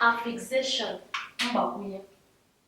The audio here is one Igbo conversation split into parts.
affixation mgbakwunye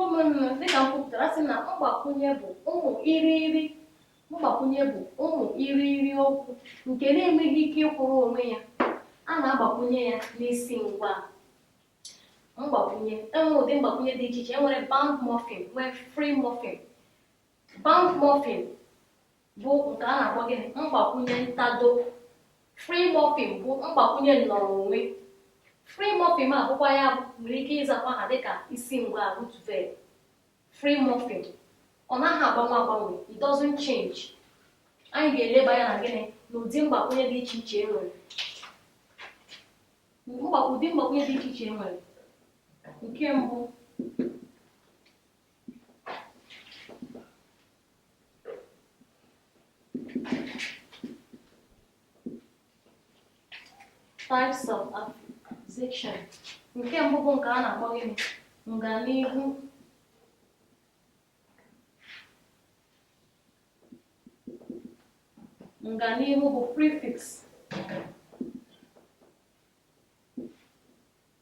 ụmụnna dịka m kwupụtara sị na mgbakwunye bụ ụmụ irighiri mgbakwunye bụ ụmụ irighiri okwu nke na-enweghị ike ịkwụrụ onwe ya a na-agbakwunye ya n'isi ngwaa mgbakwunye e nwere ụdị mgbakwunye dị iche iche e nwere bound morpheme nwee free morpheme bound morpheme bụ nke a na-akpọ gịnị mgbakwunye ntado free morpheme bụ mgbakwunye nnọrọ onwe free morpheme a bụkwa ya nwere ike ịzakwa ha dịka isi ngwaa root verb free morpheme ọ naghị agbanwe agbanwe it doesn't change anyị ga-eleba anya na gịnị n'ụdị mgbakwunye dị iche iche e nwere ụdị mgbakwunye dị iche iche e nwere nke mbụ Types of Affixation nke mbụ bụ nke a na-akpọ gịnị nganihu nganihu bụ prefix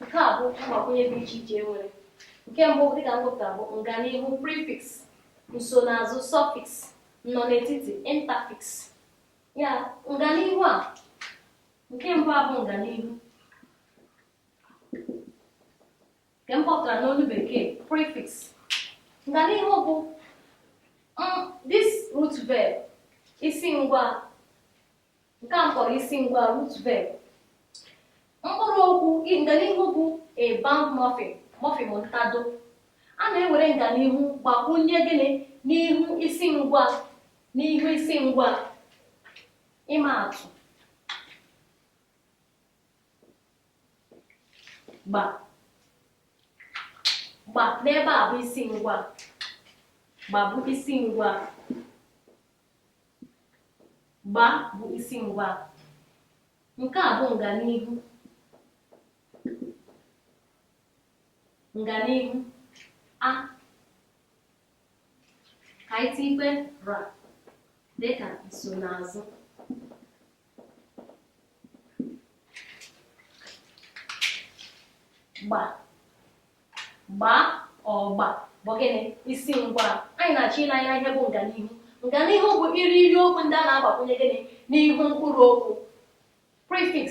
nke a bụ mgbakwunye dị iche iche e nwere nke mbụ dịka m kpọpụtara bụ nganihu prefix nsonaazụ suffix nnọnetiti interfix ya nganihu a nke mbụ a bụ nganihu nke m kpọpụtara n'olu bekee prefix nganihu bụ this root verb isi ngwaa nke m kpọrọ isi ngwaa root verb mkpụrụ okwu nganihu bụ a bound morpheme morpheme ntado a na-ewere nganihu gbakwunye gịnị n'ihu isi ngwaa n'ihu isi ngwaa ịma atụ gba gba n'ebe a bụ isi ngwaa gba bụ isi ngwaa Gba bụ isi ngwaa. Nke a bụ nganihu. Nganihu a ka anyị ra dịka nsonaazụ. gba gba gba bụ gịnị isi ngwa anyị na-achọ ile anya ihe bụ nganihu nganihu bụ iri iri okwu ndị a na-agbakwunye gịnị n'ihu mkpụrụ okwu prefix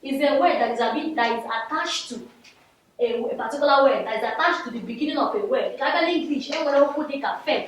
is a word that is, a bit, that is attached to a, a particular word that is attached to the beginning of a word a bịa n'English e nwere okwu dịka fet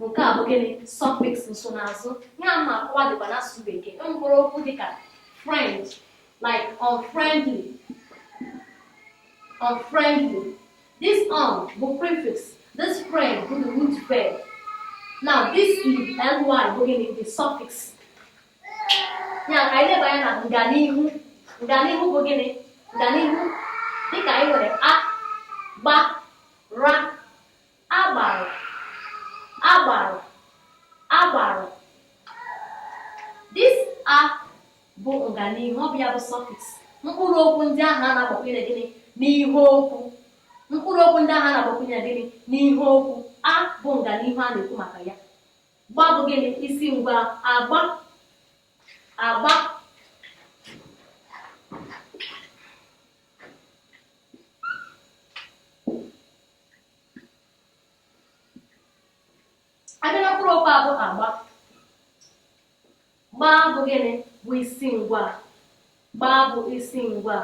Nke a bụ gịnị? Suffix nsonaazụ. Ihe a m na-akọwa dịkwa n'asụsụ Bekee. E nwekwara okwu dịka friend, like unfriendly. Unfriendly. This un bụ prefix. This friend bụ the root verb. Now this ly bụ gịnị? The suffix. Ya ka anyị leba anya na nganihu. Nganihu bụ gịnị? Nganihu dịka anyị nwere a, gba, ra, Agbara agbara agbara This a bụ nganihu, ọ bụ ya bụ suffix. Mkpụrụ okwu ndị ahụ a na-agbakwunye gịnị n'ihu okwu. Mkpụrụ okwu ndị ahụ a na-agbakwunye gịnị n'ihu okwu. A bụ nganihu a na-ekwu maka ya. Gba bụ gịnị isi ngwa agba agba a bịa na mkpụrụ okwu a bụ agba gba bụ gịnị bụ isi ngwa gba bụ isi ngwa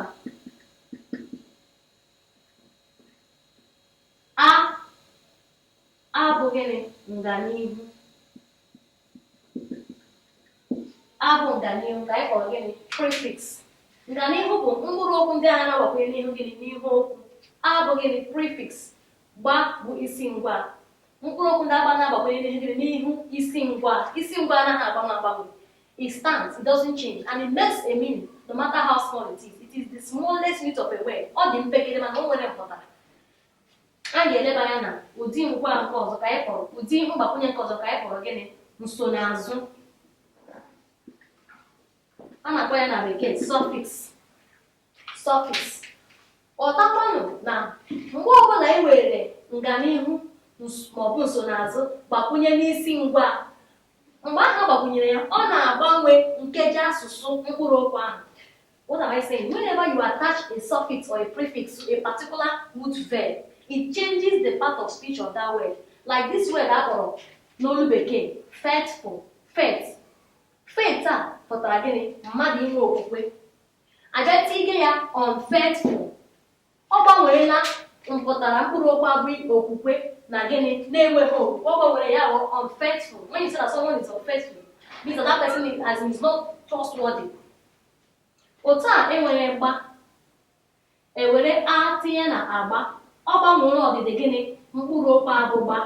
a bụ gịnị nganihu a bụ nganihu ka anyị kpọrọ gịnị prefix nganihu bụ mkpụrụ okwu ndị a na-agbakwunye n'ihu gịnị n'ihu okwu a bụ gịnị prefix gba bụ isi ngwa mkpụrụ okwu ndị agba na-agbakwunye n'ihu gịnị n'ihu isi ngwa isi ngwa anaghị agbanwe agbanwe it stands it doesn't change and it makes a meaning no matter how small it is it is the smallest unit of a word ọ dị mpekere mana o nwere mpụtara Anyị ga-eleba anya na ụdị ngwa nke ọzọ ka anyị kpọrọ ụdị mgbakwunye nke ọzọ ka anyị kpọrọ gịnị nsonaazụ a na-akpọ ya na bekee suffix suffix ghọtakwanụ na mgbe ọbụla anyị were nganihu maọbụ nsonaazụ gbakwunye n'isi ngwa mgbe ahụ a gbakwunyere ya ọ na-agbanwe nkeji asụsụ mkpụrụ okwu ahụ What am I saying? Whenever you attach a suffix or a prefix to a particular root verb, it changes the part of speech of that word. Like this word a kpọrọ n'olu bekee faithful faith faith a pụtara gịnị mmadụ inwe okwukwe a bịa tinye ya unfaithful ọ gbanweela mpụtara mkpụrụ okwu a bụ okwukwe na gịnị na enweghị okwukwe ọ gbanwere ya bụ unfaithful when you say that someone is unfaithful means that that person is, as in is not trustworthy Otu a e nwere gba e were a tinye na agba, ọ gbanwere ọdịdị gịnị? Mkpụrụ okwu a bụ gba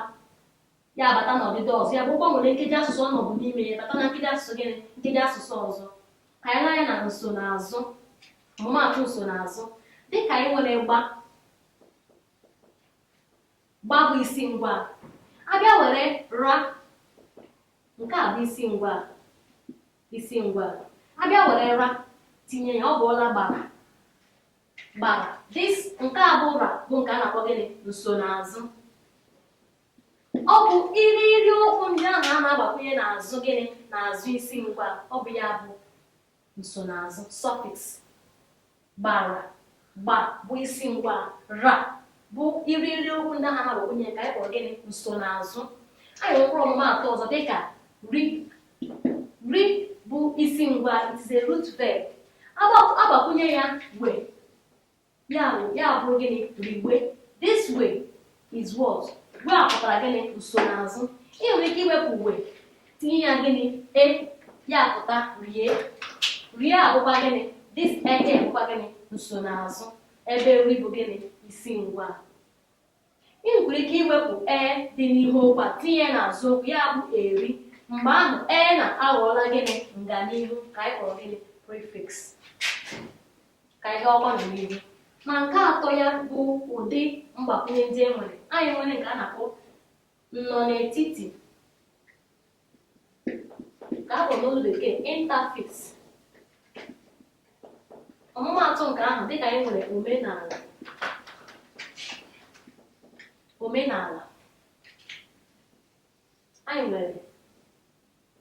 ya abata na ọdịdị ọzọ, ya bụ gbanwere nkeji asụsụ ọ nọbu n'ime ya bata na nkeji asụsụ gịnị? Nkeji asụsụ ọzọ. Ka anyị lee anya na nsonaazụ, ọmụmaatụ nsonaazụ. Dịka anyị nwere gba, gba bụ isi ngwaa. A bịa were ra, nke a bụ isi ngwaa. isi ngwaa a bịa were ra tinye ya ọ bụọla gbara gbara this nke a bụ ra bụ nke a na-akpọ gịnị nsonaazụ ọ bụ irighiri okwu ndị ahụ a na-agbakwunye n'azụ gịnị n'azụ isi ngwaa ọ bụ ya bụ nsonaazụ suffix Gbara, gba, bụ isi ngwaa, ra, bụ irighiri okwu ndị ahụ a na-agbakwụnye nke anyị kpọrọ gịnị? Nsonaazụ. Anyị nwere mkpụrụ ọmụmaatụ ọzọ dị ka ri. Ri bụ isi ngwaa, it is a root verb. A gba- A gbakwụnye ya we, ya bụ ya bụrụ gịnị? Riwe. This we, is what we pụtara gịnị nsonaazụ ị nwere ike iwepụ we tinye ya gịnị e ya pụta rie rie abụkwa gịnị this e bụkwa gịnị nsonaazụ ebe ri bụ gịnị isi ngwaa ị nwere ike iwepụ e dị n'ihu okwu a tinye ya n'azụ okwu ya bụ eri mgbe ahụ e na-aghọọla gịnị nganihu nke anyị kpọrọ gịnị prefix ka anyị gakwanụ n'ihu na nke atọ ya bụ ụdị mgbakwunye ndị e nwere anyị nwere nke a na-akpọ nnọnaetiti nke a kpọrọ n'olu bekee interfix ọmụmaatụ nke ahụ dịka anyị nwere omenala omenala Anyị nwere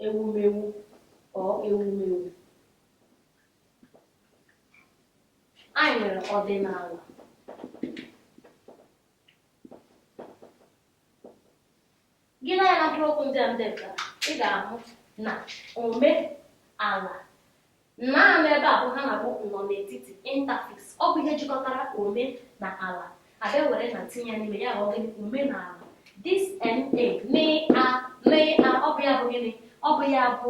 ewumewu ọ ewumewu. Anyị nwere ọdịnala. Gị lee anya na mkpụrụ okwu ndị a m depụtara, ị ga-ahụ na ome ala Na nọ ebe a bụ ihe a na-akpọ nnọnetiti, interfix. Ọ bụ ihe jikọtara ome na ala. A bịa were na tinye ya n'ime ya ghọọ gịnị? Omenaala. This na, na, na, ọ bụ ya bụ gịnị? Ọ bụ ya bụ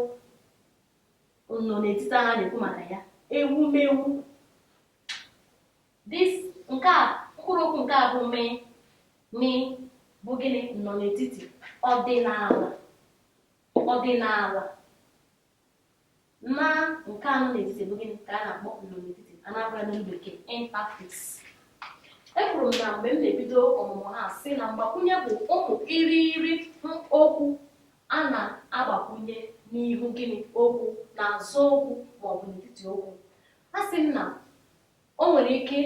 nnọnetiti a ha na-ekwu maka ya, ewumewu. This nke a mkpụrụ okwu nke a bụ m, m bụ gịnị? Nnọnetiti, ọdịnala, ọdịnala. Na nke a nọ n'etiti bụ gịnị ka a na-akpọ nnọnetiti a na-akpọ ya n'olu bekee interfix ekwuru m na mgbe m na-ebido ọmụmụ ihe a sị na mgbakwunye bụ ụmụ irighiri okwu a na-agbakwunye n'ihu gịnị okwu n'azụ okwu maọbụ n'etiti okwu asị m na o nwere ike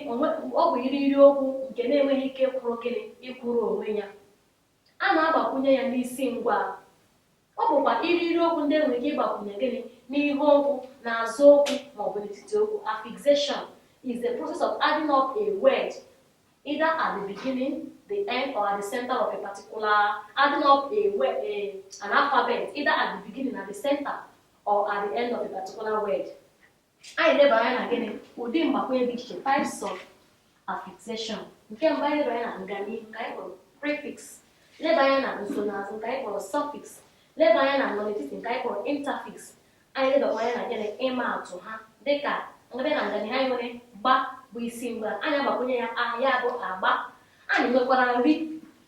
ọ bụ irighiri okwu nke na-enweghị ike ịkwụrụ gịnị ịkwụrụ onwe ya A na-agbakwunye ya n'isi ngwaa. Ọ bụkwa irighiri okwu ndị e nwere ike ịgbakwunye gịnị? N'ihu okwu, n'azụ okwu, ma ọ bụ n'etiti okwu. Affixation is the process of adding of a word either at the beginning, the end, or at the center of a particular adding of a word, a, an alphabet either at the beginning, at the center, or at the end of a particular word. anyị leba anya na gịnị ụdị mgbakwunye dị iche types of affixation nke mbụ anyị leba anya na nganihu nke anyị kpọrọ prefix leba anya na nsonaazụ nke anyị kpọrọ suffix leba anya na nnọnetiti nke anyị kpọrọ interfix anyị lebakwa anya na gịnị ịma atụ ha dịka a bịa na nganihu anyị nwere gba bụ isi ngwaa anyị agbakwunye ya a ya bụ agba anyị nwekwara nri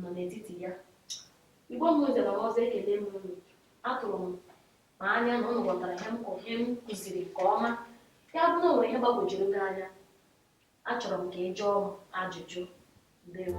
nọ n'etiti ya igbo m nze na ọzọ ekelee m unu atụrụ m anya na ụnụ ghọtara ihe m ihe m kụziri nke ọma ya bụ na o nwere ihe gbagwojuru gị anya achọrọ m ka ị jụọ m ajụjụ ndewo